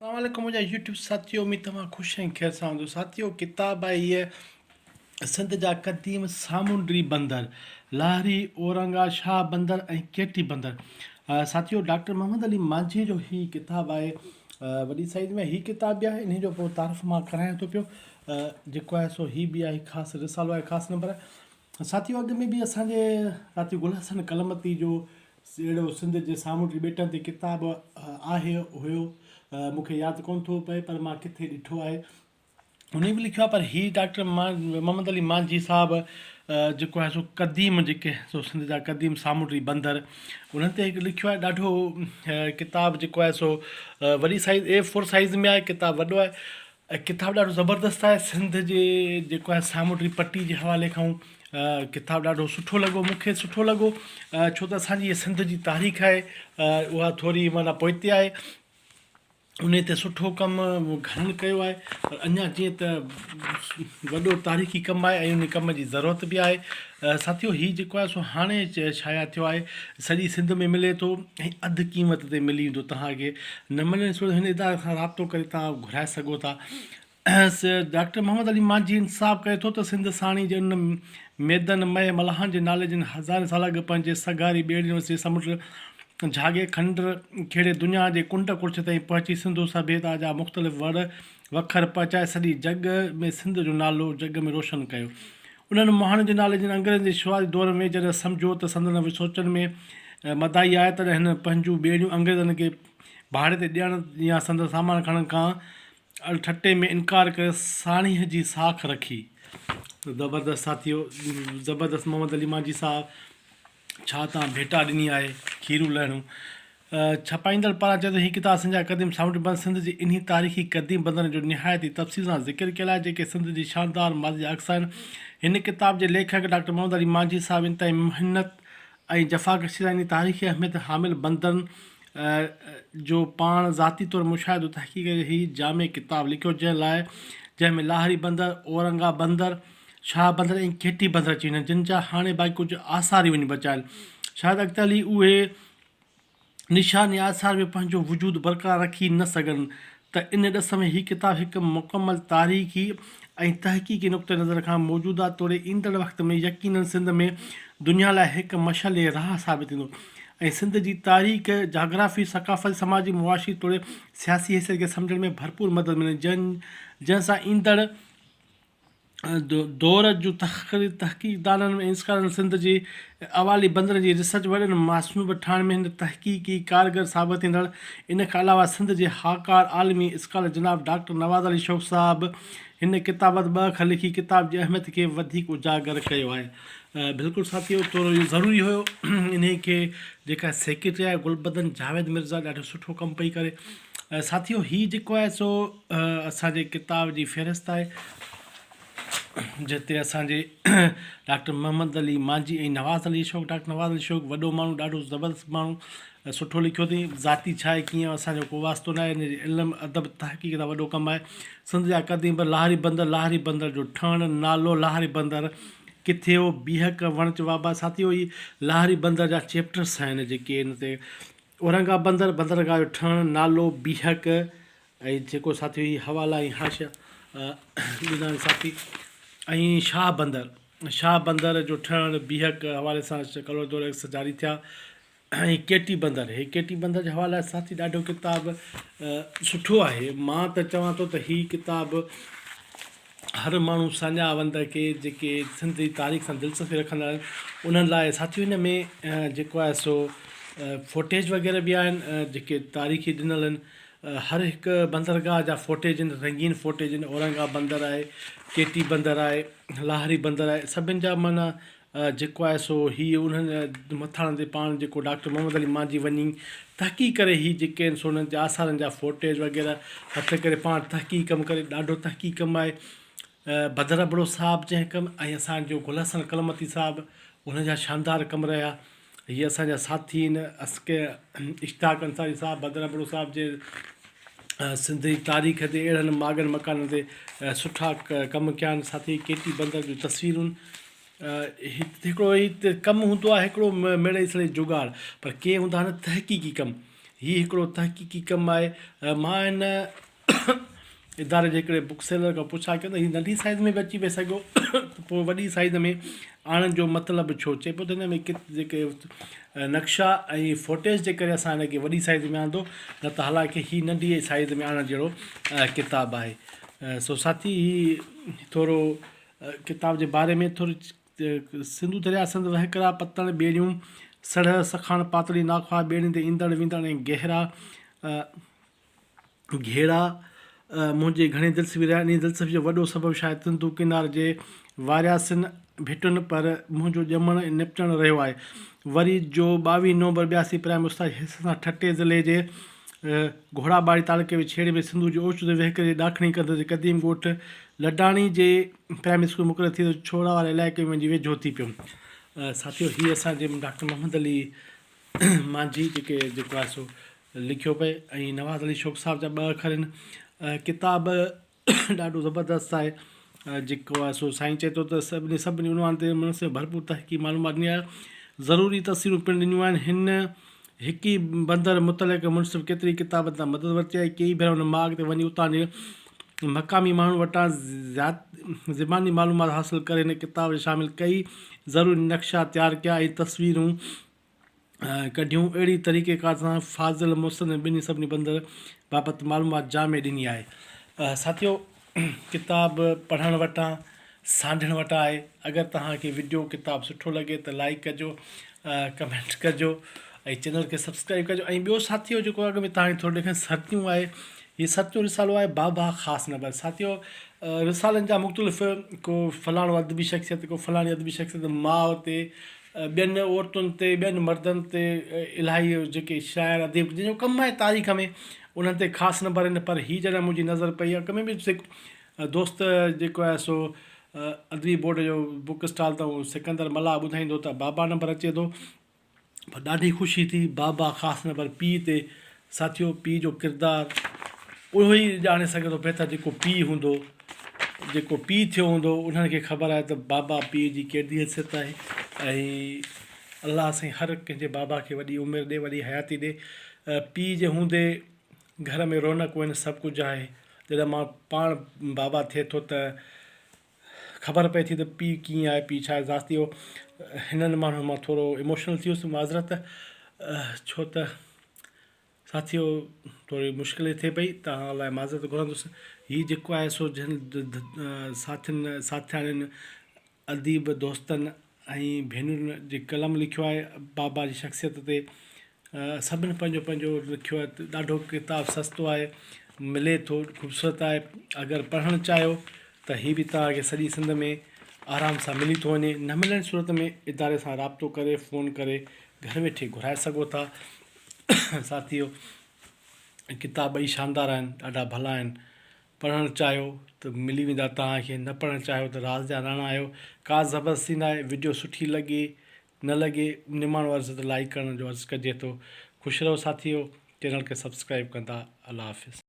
اسلام عليڪم منهنجا يوٽيوب ساٿيو اميد توهان خوش ۽ خير سان هوندو ساٿيو ڪتاب آهي هيء سنڌ جا قديم سامونڊي بندر لاهري اورنگا شاهه بندر ۽ ڪيٽي بندر ساٿيو ڊاڪٽر محمد علي مانجهي جو هي ڪتاب آهي وڏي سائز ۾ هي ڪتاب به آهي ان جو پورو تعارف مان ڪرايان ٿو پيو جيڪو آهي سو هي به آهي خاص رسالو آهي خاص نمبر ساٿيو اڳ ۾ به اسانجي ساٿي گل حسن قلمتي جو اهڙو سنڌ جي سامونڊي ٻيٽن تي ڪتاب آهي هيو مون کي ياد ڪونه ٿو پئي پر مان ڪٿي ڏٺو آهي. هن به لکيو آهي پر هي ڊاڪٽر محمد علي مانجهي صاحب جيڪو آهي سو قديم جيڪي سو سنڌ جا قديم سامونڊي بندر انهن تي هڪ لکيو آهي ڏاڍو ڪتاب جيڪو آهي سو وڏي سائيز اي فور سائيز ۾ آهي ڪتاب وڏو آهي ھي ڪتاب ڏاڍو زبردست آھي سنڌ جي جيڪو آھي سامونڊي پٽي جي حوالي کان ڪتاب ڏاڍو سٺو لڳو مونکي سٺو لڳو ڇو ته اسان جي سنڌ جي تاريخ آھي اھا ٿوري معنيٰ پوئتي آھي انھي تي سٺو ڪم گھڻن ڪيو آھي پر اڃا جيئن ته وڏو تاريخي ڪم آھي ۽ انھي ڪم جي ضرورت به آھي ساٿيو هي جيڪو آهي سو هاڻي شايع ٿيو آهي سڄي سنڌ ۾ ملي ٿو ۽ اڌ قيمت تي ملي ويندو تهان کي نه ملي سو هن اداري سان رابطو ڪري تهان گهرائي سگهو ٿا ڊاڪٽر محمد علي مانجهي انتساب ڪري ٿو ته سنڌ ساڻي جي ان ميدن مئي ملاحن جي نالي جن هزارين سال اڳ پنهنجي سگهاري ٻيڙين وسيع سمنڊ جهاڳي کنڊر کيڙي دنيا جي ڪنڊ ڪڙڇ تائين پهچي سنڌو سڀيتا جا مختلف وڙ وکر پهچائي سڄي جڳ ۾ سنڌ جو نالو جڳ ۾ روشن ڪيو انهن مهاڻين جي نالي جن انگريزن جي شروعاتي دور ۾ جڏهن سمجهيو ته سندن سوچن ۾ مدائي آهي تڏهن هن پنهنجون ٻيڙيون انگريزن کي ڀاڙي تي ڏيڻ يا سندن سامان کڻڻ کان اڙ ٺٽي ۾ انڪار ڪري ساڻيهه جي ساک رکي. زبردست ساٿيو زبردست محمد علي مانجهي صاحب. ڇا توهان ڀيٽا ڏني آهي کيرون لهڻون؟ ڇپائيندڙ پاران چيو ته هي ڪتاب سنڌ جا قديم سامونڊ بند سنڌ جي انهي تاريخي قديم بندن جو نهايت ئي تفصيل سان ذڪر ڪيل آهي جيڪي سنڌ جي شاندار ماضي جا عڪس آهن هن ڪتاب جي ليکڪ ڊاڪٽر محمد علي مانجهي صاحب انتهائي محنت ۽ جفاڪشي سان انهي تاريخي اهميت حامل بندن جو پاڻ ذاتي طور مشاهدو تحقيق ڪري هي جامع ڪتاب لکيو جنهن لاء جنهن ۾ لاهري بندر اورنگا بندر ۽ شاهه بندر ۽ کيٽي بندر اچي وڃن جن جا هاڻي باقي ڪجهه آثار ئي وڃي بچا آهن. شايد اڳتي هلي اهي نشان يا آثار به پنهنجو وجود برقرار رکي نه سگهن ته ان ڏس ۾ هي ڪتاب هڪ مڪمل تاريخي ۽ تحقيقي نقطه نظر کان موجوده توڙي ايندڙ وقت ۾ يقينن سنڌ ۾ دنيا لاء هڪ مشعل راهه ثابت ٿيندو ۽ سنڌ جي تاريخ، جاگرافي، ثقافتي، سماجي، معاشي توڙي سياسي حيثيت کي سمجهڻ ۾ ڀرپور مدد ملندي جنهن سان ايندڙ. دور جون تحقيقدانن ۽ انسڪارن سنڌ جي اوالي بندر جي ريسرچ وڏن ماصنوبه ٺاهڻ ۾ هن تحقيقي ڪارگر ثابت ٿيندڙ ان کان علاوه سنڌ جي هاڪار عالمي اسڪالر جناب ڊاڪٽر نواز علي شوق صاحب هن ڪتابت ٻه اک لکي ڪتاب جي اهميت کي وڌيڪ اجاگر ڪيو آهي بلڪل ساٿيو ٿورو اهو ضروري هيو انهي کي جيڪا سيڪريٽري آهي گلبدن جاويد مرزا ڏاڍو سٺو ڪم پئي ڪري ساٿيو هي جيڪو آهي سو اسان جي ڪتاب جي فهرست آهي جتي اسان جي ڊاڪٽر محمد علي مانجي ۽ نواز علي اشوڪ ڊاڪٽر نواز علي اشوڪ وڏو ماڻهو ڏاڍو زبردست ماڻهو سٺو لکيو اٿئي ذاتي ڇا آهي ڪيئن اسان جو ڪو واسطو نه آهي علم ادب تحقيق سان وڏو ڪم آهي سنڌ جا قديم پر لاهري بندر لاهري بندر جو ٺهڻ نالو لاهري بندر ڪٿي هو بيهڪ وڻچ وابا ساٿيو هي لاهري بندر جا چيپٽرس آهن جيڪي هن تي اورنگا بندر، بندرگاهه جو ٺهڻ، نالو، بيهڪ ۽ جيڪو ساٿي هي حوالا ۽ حاشيه ڏنا آهن ساٿي ۽ شاهه بندر، شاهه بندر جو ٺهڻ، بيهڪ حوالي سان ڪلور دور ايڪس جاري ٿيا ۽ ڪي ٽي بندر، هي ڪي ٽي بندر جي حوالي لاء ساٿي ڏاڍو ڪتاب سٺو آهي، مان ته چوان ٿو ته هي ڪتاب هر ماڻهو ساڃاهه وند کي جيڪي سنڌ جي تاريخ سان دلچسپي رکندا آهن انهن لاء ساٿيو ان ۾ جيڪو آهي سو فوٽيج وغيره به آهن جيڪي تاريخي ڏنل آهن هر هڪ بندرگاهه جا فوٽيج آهن رنگين فوٽيج آهن اورنگا بندر آهي ڪيٽي بندر آهي لاهري بندر آهي سڀني جا معنيٰ جيڪو آهي سو هي انهن مٿاڻن تي پاڻ جيڪو ڊاڪٽر محمد علي مانجهي وڃي تحقيق ڪري هي جيڪي آهن سو انهن جي آثارن جا فوٽيج وغيره هٿ ڪري پاڻ تحقيق ڪم ڪري ڏاڍو تحقيق ڪم آهي بدر ابڙو صاحب جنهن ڪم ۽ اسان جو گل حسن ڪلمتي صاحب انهن جا شاندار ڪم رهيا هي اسان جا ساٿي آهن، اسڪ اشتاق انصاري صاحب بدر ابڙو صاحب جي سنڌي تاريخ تي اهڙن ماڳن مڪانن تي سٺا ڪم ڪيا آهن ساٿي ڪي ٽي بندر جون تصويرون هڪڙو هي ڪم هوندو آهي هڪڙو ميڙئي سڙئي جوڳاڙ پر ڪي هوندا آهن تحقيقي ڪم هي هڪڙو تحقيقي ڪم آهي مان هن اداري جي هڪڙي بڪ سيلر کان پڇا ڪيو ته هي ننڍي سائيز ۾ به اچي پئي سگهيو ته پوء وڏي سائيز ۾ آڻڻ جو مطلب ڇو؟ چئي پيو ته هن ۾ ڪت جيڪي نقشا ۽ فوٽيج جي ڪري اسان هن کي وڏي سائيز ۾ آندو نه ته حالانڪه هي ننڍي سائيز ۾ آڻڻ جهڙو ڪتاب آهي سو ساٿي هي ٿورو ڪتاب جي باري ۾ ٿوري سنڌو درياء سنڌ وهڪرا پتڻ ٻيڙيون سڙهه سکاڻ پاتڙي ناخواه ٻيڙين تي ايندڙ ويندڙ ۽ گهرا گهيڙا منهنجي گهڻي دلچسپي رهيا آهن. انهيء دلچسپيء جو وڏو سبب شايد سنڌو ڪنار جي وارياسين ڀٽن پر منهنجو ڄمڻ ۽ نپٽڻ رهيو آهي. وري جو ٻاويهه نومبر ٻياسي پرائمري استاد جي حيثيت سان ٺٽي ضلعي جي گهوڙا ٻاڙي تعلقي جي ڇيڙي ۾ سنڌو جي اوچتو وهڪري جي ڏاکڻي ڪنڌ تي قديم ڳوٺ لڊاڻي جي پرائمري اسڪول ۾ مقرر ٿي ته ڇوڙا واري علائقي ۾ وڃي ويجهو ٿي پيم. ساٿيو هي اسان جي ڊاڪٽر محمد علي مانجهي جيڪي جيڪو آهي سو لکيو پئي ۽ نواز علي شوق صاحب جا ٻه اکر آهن ڪتاب ڏاڍو زبردست آهي جيڪو آهي سو سائين چئي ٿو ته سڀني سڀني عنوان تي مڙس ڀرپور تحقيق معلومات ڏني آهي ضروري تصويرون پڻ ڏنيون آهن هن هڪ ئي بندر متعلق منصف ڪيتري ڪتابن تان مدد ورتي آهي ڪيئي ڀيرا هن ماڳ تي وڃي اتان جي مقامي ماڻهن وٽان زيات زباني معلومات حاصل ڪري هن ڪتاب ۾ شامل ڪئي ضروري نقشا تيار ڪيا ۽ تصويرون ڪڍيون اهڙي طريقي ڪار سان فاضل محسن ۽ ٻنهي سڀني بندر بابت معلومات جامع ڏني آهي ساٿيو ڪتاب پڙهڻ وٽان سانڍڻ وٽان آهي اگر توهان کي وڊيو ڪتاب سٺو لڳي ته لائيڪ ڪجو ڪمينٽ ڪجو ۽ چينل کي سبسڪرائيب ڪجو ۽ ٻيو ساٿيو جيڪو اڳ ۾ توهان کي ٿوري ڏيکن ستيون آهي هي ستيون رسالو آهي بابا خاص نبر ساٿيو رسالن جا مختلف ڪو فلاڻو ادبي شخصيت ڪو فلاڻي ادبي شخصيت ماء تي ٻين عورتن تي ٻين مردن تي الاهي جيڪي شاعر اديب جن جو ڪم آهي تاريخ ۾ انهن تي خاص نبر آهن پر هي جڏهن منهنجي نظر پئي اڳ ۾ به دوست جيڪو آهي سو ادبي بورڊ جو بوڪ اسٽال تائون سڪندر ملاح ٻڌائيندو ته بابا نمبر اچي ٿو پر ڏاڍي خوشي ٿي بابا خاص نمبر پيء تي ساٿيو پيء جو ڪردار اهو ئي ڄاڻي سگهي ٿو بهتر جيڪو پيء هوندو جيڪو پيء ٿيو هوندو انهن کي خبر آهي ته بابا پيء جي ڪهڙي حيثيت آهي ۽ الله سائين هر ڪنهن جي بابا کي وڏي عمر ڏي وڏي حياتي ڏي پيء جي هوندي گهر ۾ رونق وڃ سڀ ڪجهه آهي. جڏهن ماڻهو پاڻ بابا ٿئي ٿو ته خبر پئي ٿي ته پيء ڪيئن آهي پيء ڇا ذات ٿيو. هنن ماڻهن مان ٿورو ايموشنل ٿي ويس معذرت ڇو ته ساٿيو ٿوري مشڪل ٿئي پئي توهان لاء معذرت گهرندس. هي جيڪو آهي سو جن ساٿين ساٿياڻين اديب دوستن ۽ ڀينرن جي قلم لکيو آهي بابا جي شخصيت تي سڀني پنهنجو پنهنجو لکيو آهي ڏاڍو ڪتاب سستو آهي ملي ٿو خوبصورت آهي اگر پڙهڻ چاهيو ته هي به توهان کي سڄي سنڌ ۾ آرام سان ملي ٿو وڃي نه ملڻ جي صورت ۾ اداري سان رابطو ڪري فون ڪري گهر ويٺي گهرائي سگهو ٿا ساٿيو ڪتاب ٻئي شاندار آهن ڏاڍا ڀلا آهن پڙهڻ چاهيو ته ملي ويندا توهان کي نه پڙهڻ چاهيو ته راز جا راڻا آهيو ڪا زبردستي ناهي وڊيو سٺي لڳي نه لڳي نماڻو عرض ته لائيڪ ڪرڻ جو عرض ڪجي ٿو خوش رهو ساٿيو چينل کي سبسڪرائيب ڪندا الله حافظ.